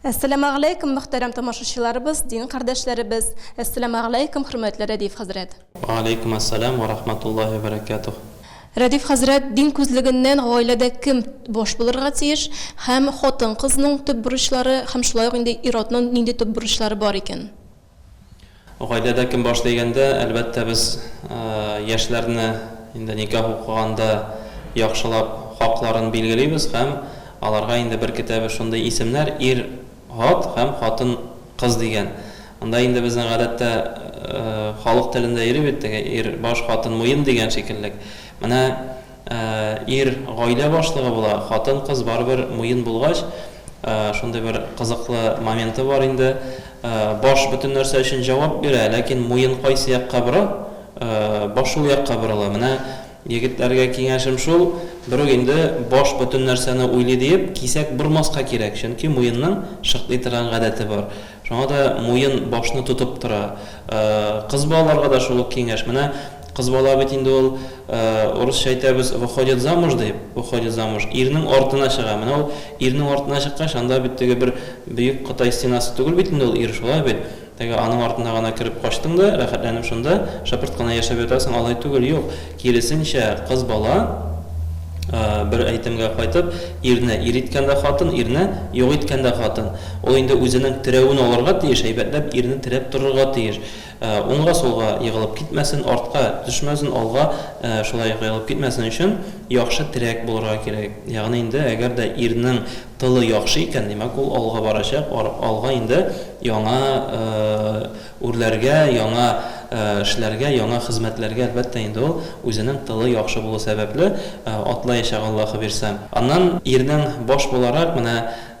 Әссәламәгъләйкүм, мөхтәрәм тамашачыларыбыз, дин кардәшләребез! Әссәламәгъләйкүм, хөрмәтле Рәдиф хәзрәт! Вәгәләйкүм әссәлам вә рахматуллаһи вә бәрәкәтүһ! Рәдиф хәзрәт, дин күзлегеннән гаиләдә кем баш булырга тиеш һәм хатын-кызның төп бурычлары һәм шулай ук инде ир-атның нинди төп бурычлары бар икән? Гаиләдә кем баш дигәндә, әлбәттә, без яшьләрне инде никах укыганда яхшылап хакларын билгелибез һәм аларга инде беркетәбез шундый исемнәр, ир, ат һәм хатын, кыз дигән. Анда инде безнең гадәттә халык телендә йөри бит теге, ир, баш, хатын, муен дигән шикеллек. Менә. Ә ир гаилә башлыгы була, хатын-кыз барыбер муен булгач, шундый бер кызыклы моменты бар инде. Баш бөтен нәрсә өчен җавап бирә, ләкин муен кайсы якка бора, баш шул якка борыла. Менә егетләргә киңәшем шул, берүк инде баш бөтен нәрсәне уйлый диеп, кисәк бормаска кирәк, чөнки муенның шыкли торган гадәте бар. Шуңа да муен башны тотып тора. Кыз балаларга да шул ук киңәш. Менә кыз бала бит инде ул, урысча әйтәбез, выходит замуж дип, выходит замуж, ирнең артына чыга. Менә ул ирнең артына чыккач, анда бит теге бер бөек Кытай стенасы түгел бит инде ул ир, шулай бит? Теге аның артына гына кереп качтың да, рәхәтләнеп шунда шыпырт кына яшәп ятасың, алай түгел, юк. Киресенчә, кыз бала, бер әйтемгә кайтып, ирне ир иткән дә хатын, ирне юк иткән дә хатын. Ул инде үзенең терәвен алырга тиеш, әйбәтләп ирне терәп торырга тиеш. Уңга-сулга егылып китмәсен, артка төшмәсен, алга шулай ук егылып китмәсен өчен яхшы терәк булырга кирәк. Ягъни инде, әгәр дә ирнең тылы яхшы икән, димәк, ул алга барачак, алга инде яңа Үрләргә, яңа эшләргә, яңа хезмәтләргә, әлбәттә инде ул, үзенең тылы яхшы булу сәбәпле, атлаячак Аллаһыбирса. Аннан ирнең баш буларак, менә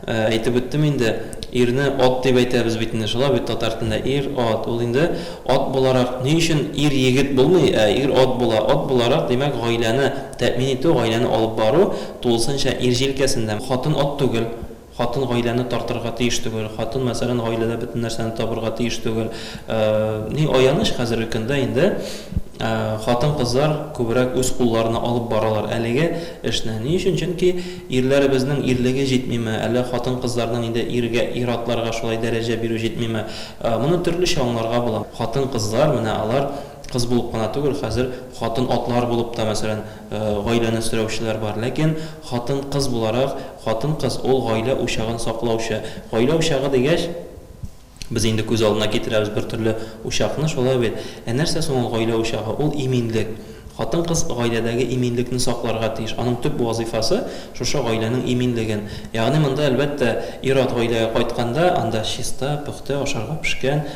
әйтеп үттем инде, ирне ат дип әйтәбез бит инде, шулай бит татар телендә, ир, ат, ул инде ат буларак, ни өчен ир егет булмый, ә ир ат була, ат буларак, димәк, гаиләне тәэмин итү, гаиләне алып бару тулысынча ир җилкәсендә. Хатын ат түгел. Хатын гаиләне тартырга тиеш түгел, хатын, мәсәлән, гаиләдә бөтен нәрсәне табырга тиеш түгел. Ни аяныч, хәзерге көндә инде хатын-кызлар күбрәк үз кулларына алып баралар әлеге эшне. Ни өчен? Чөнки ирләребезнең ирлеге җитмиме, әллә хатын-кызларның инде иргә, ир-атларга шулай дәрәҗә бирү җитмиме? Моны төрлечә аңларга була. Хатын-кызлар, менә алар кыз булып кына түгел, хәзер хатын-атлар булып та, мәсәлән, Гаиләне сөрәүчеләр бар, ләкин хатын-кыз буларак, хатын-кыз ул гаилә учагын саклаучы. Гаилә учагы дигәч, без инде күз алдына китерәбез бер төрле учакны, шулай бит? Ә нәрсә соң ул гаилә учагы? Ул иминлек. Хатын-кыз гаиләдәге иминлекне сакларга тиеш. Аның төп вазыйфасы, шушы гаиләнең иминлеген. Ягъни монда, әлбәттә, ир-ат гаиләгә кайтканда, анда чиста, пөхтә, ашарга пешкән,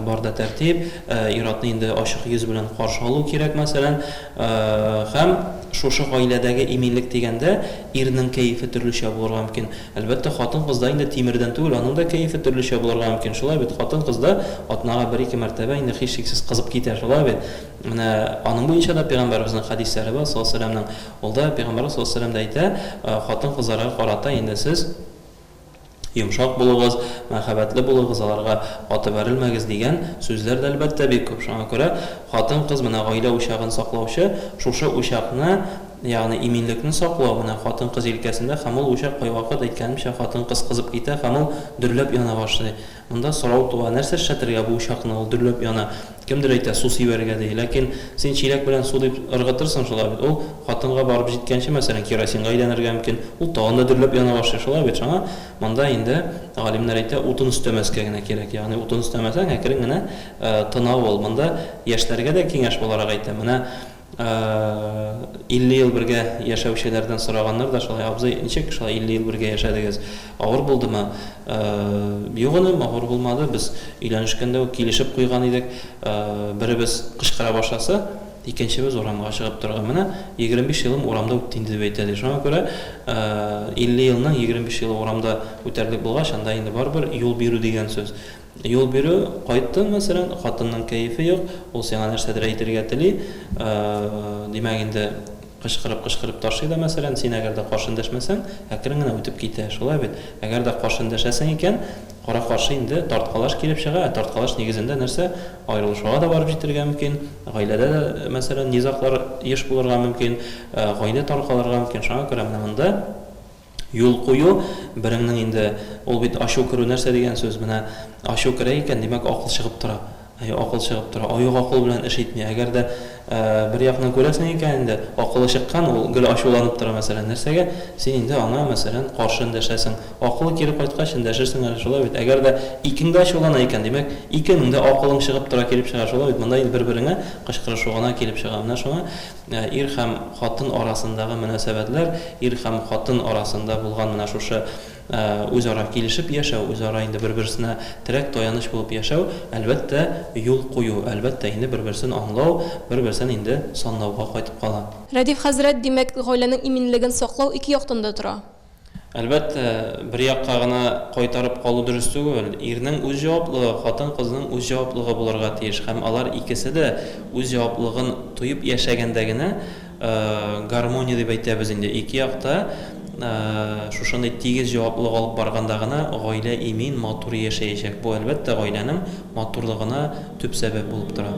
барда тәртип, ир-атны инде ачык йөз белән каршы алу кирәк, мәсәлән. Һәм шушы гаиләдәге иминлек дигәндә, ирнең кәефе төрлечә булырга мөмкин. Әлбәттә, хатын-кызда инде тимердән түгел, аның да кәефе төрлечә булырга мөмкин. Шулай бит, хатын-кыз да атнага бер-ике мәртәбә инде һичшиксез кызып китә, шулай бит? Менә аның буенча да пәйгамбәребезнең хәдисләре бар, саллаллаһу галәйһи вә сәлләмнең. Ул да, пәйгамбәребез саллаллаһу галәйһи вә сәлләм дә әйтә, хатын-кызларга карата инде сез, Йомшак булыгыз, мәхәббәтле булыгыз, аларга каты бәрелмәгез, дигән сүзләр дә, әлбәттә, бик күп. Шуңа күрә хатын-кыз, менә гаилә учагын саклаучы, шушы учакны, ягъни иминлекне саклау, менә хатын-кыз җилкәсендә һәм ул учак кайвакыт, әйткәнемчә, хатын-кыз кызып китә һәм ул дөрләп яна башлый. Монда сорау туа, нәрсә эшләтергә бу учакны, ул дөрләп яна. Кемдер әйтә, су сибәргә, ди. Ләкин син чиләк белән су дип ыргытырсың, шулай бит? Ул хатынга барып җиткәнче, мәсәлән, керосинга әйләнергә мөмкин. Ул тагын да дөрләп яна башлый, шулай бит? Шуңа монда инде, галимнәр әйтә, утын өстәмәскә генә кирәк. Ягъни утын өстәмәсәң, әкрен генә тына ул. Монда яшьләргә дә киңәш буларак әйтәм, менә 50 ел бергә яшәүчеләрдән сораганнар да шулай, абзый, ничек шулай 50 ел бергә яшәдегез, авыр булдымы? Юк, энем, авыр булмады, без өйләнешкәндә үк килешеп куйган идек, беребез кычкыра башласа, икенчебез урамга чыгып торырга. Менә 25 елым урамда үтте инде, дип әйтә, ди. Шуңа күрә 50 елның 25 елы урамда үтәрлек булгач, анда инде барыбер юл бирү дигән сүз. Юл бирү, Кайттың, мәсәлән, хатынның кәефе юк, ул сиңа нәрсәдер әйтергә тели, димәк инде, кычкырып-кычкырып ташлый да, мәсәлән, син әгәр дә каршы эндәшмәсәң, әкрен генә үтеп китә, шулай бит? Әгәр дә каршы эндәшәсең икән, кара-каршы инде тарткалаш килеп чыга, ә тарткалаш нигезендә нәрсә, аерылышуга да барып җитәргә мөмкин, гаиләдә дә, мәсәлән, низаглар еш булырга мөмкин, гаилә таркалырга мөмкин, шуңа күрә менә монда. Юл кую, береңнең инде, ул бит ачу керү нәрсә дигән сүз, менә ачу керә икән, димәк, акыл чыгып тора. Әйе, акыл чыгып тора. Оек акыл белән эш итми. Әгәр дә бер якны күрәсең икән инде, акылы чыккан, ул гел ачуланып тора, мәсәлән, нәрсәгә, син инде аңа, мәсәлән, каршы эндәшәсең. Акылы кире кайткач, эндәшерсең әле, шулай бит? Әгәр дә икең дә ачулана икән, димәк, икенең дә акылың чыгып тора килеп чыга, шулай бит? Монда инде бер-береңә кычкырышу гына килеп чыга. Менә шуңа. Ир һәм хатын арасындагы мөнәсәбәтләр, ир һәм хатын арасында булган менә шушы үзара килешеп яшәү, үзара инде бер-берсенә терәк-таяныч булып яшәү, әлбәттә, юл кую, әлбәттә, инде бер-берсен аңлау, бер-берсен инде санлауга кайтып кала. Рәдиф хәзрәт, димәк, гаиләнең иминлеген саклау ике яктан да тора. Әлбәттә, бер якка гына кайтарып калу дөрес түгел. Ирнең үз җаваплыгы, хатын-кызның үз җаваплыгы булырга тиеш һәм алар икесе дә үз җаваплыгын тоеп яшәгәндә генә гармония дип әйтәбез инде. Ике як та шушындый тигез җаваплылык алып барганда гына гаилә имин, матур яшәячәк. Бу, әлбәттә, гаиләнең матурлыгына төп сәбәп булып тора.